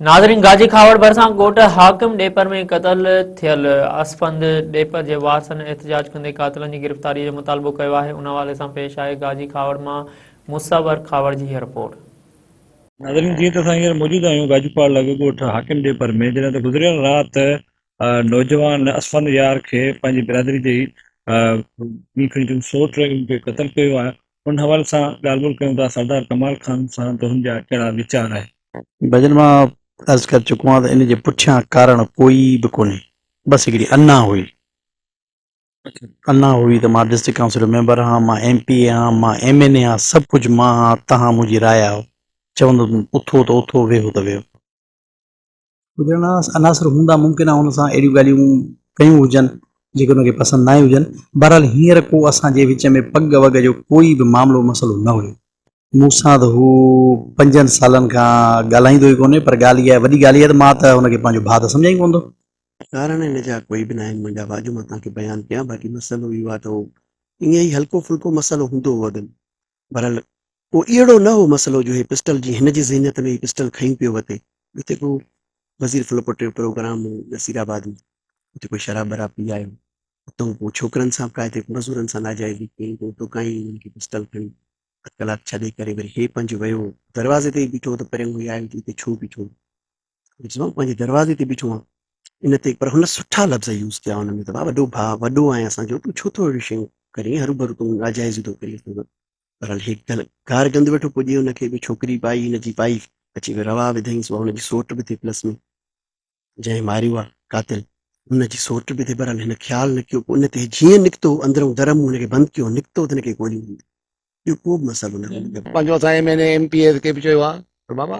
ناظرين گاجي کهاوڙ ڀرسان ڳوٺ حاڪم ڏيپر ۾ قتل ٿيل اسفند ڏيپر جي وارثن احتجاج ڪندي قاتلن جي گرفتاري جو مطالبو ڪيو آهي ان حوالي سان پيش آهي گاجي کهاوڙ مان مصور کهاوڙ جي هي رپورٽ. ناظرين جيئن ته اسان هينئر موجود آهيون گاجي کهاوڙ لاڳو ڳوٺ حاڪم ڏيپر ۾ جڏهن ته گذريل رات نوجوان اسفند يار کي پنهنجي برادري جي ئي ٻي کڻي چون سوٽ کي قتل ڪيو ويو آهي ان حوالي سان ڳالهه ٻولهه ڪيون ٿا سردار ڪمال خان سان تنهن جا ڪهڙا ويچار آهن. ڀڄن مان عرض ڪر چڪو آهيان ته ان جي پٺيان ڪارڻ ڪوئي به ڪونهي بس هڪڙي انا هئي انا هئي ته مان ڊسٽرڪٽ ڪائونسل جو ميمبر هان مان ايم پي اي هان مان ايم اين اي هان سڀ ڪجهه مان هان تهان منهنجي راء آهو چوندو اٿو ته اٿو ويهو ته ويهو. گذرندڙ عناصر هوندا ممڪن آهي هن سان اهڙيون ڳالهيون ڪيون هجن جيڪي هن کي پسند ناهي هجن بهرحال هينئر ڪو اسان جي وچ ۾ پڳ وڳ جو ڪوئي به معاملو مسئلو نه هيو. مون سان ته هو پنجن سالن کان ڳالهائيندو ئي ڪونهي پر ڳالهه اها وڏي ڳالهه اها ته مان ته هن کي پنهنجو ڀاء ته سمجهان ئي ڪونه ٿو. ڪارڻ ان جا ڪوئي به ناهن منهنجا بها جو مان توهان کي بيان ڪيان باقي مسئلو اهو آهي ته هو ائين ئي هلڪو ڦلڪو مسئلو هوندو هو اڳ ۾ بھرحال اھو اھڙو نه ھو مسئلو جو ھي پسٽل جيئن ھن جي ذھنيت ۾ ھي پسٽل کنئي پيو وتي جتي ڪو وزير فلپوٽي جو پروگرام ھو نصير آباد ۾ اتي ڪو شراب براب پي آيو اتو پوء ڇوڪرن سان ڪائي تي مزورن سان ناجائزي ڪئي پوء اتو ڪائين ھنن کي پسٽل کڻي اڌ ڪلاڪ ڇڏي ڪري وري ھي پنھنجو ويو دروازي تي ئي بيٺو ھو ته پريون ھي آيو تي اتي ڇو بيٺو ھو سمجهيو پنهنجي دروازي تي بيٺو آهيان ان تي پر هن سٺا لفظ يوز ڪيا ان ۾ ته ڀاء وڏو ڀاء وڏو آهين اسان جو تون ڇو ٿو اهڙيون شيون ڪرين هروڀرو تون ناجائز ٿو ڪرين بهرحال هي گار گند ويٺو پڄي ان کي به ڇوڪري پائي هن جي پائي اچي وي روا وڌائينس هن جي سوٽ به ٿي پلس ۾ جنهن ماريو آهي قاتل ان جي سوٽ به ٿي بهرحال هن خيال نه ڪيو پوء ان تي جيئن نڪتو اندرون در مون هن کي بند ڪيو نڪتو ته هن کي گولي هنئي ٻيو ڪو به مسئلو نه هو پنهنجو اسان M N A M P As کي به چيو آهي ته بابا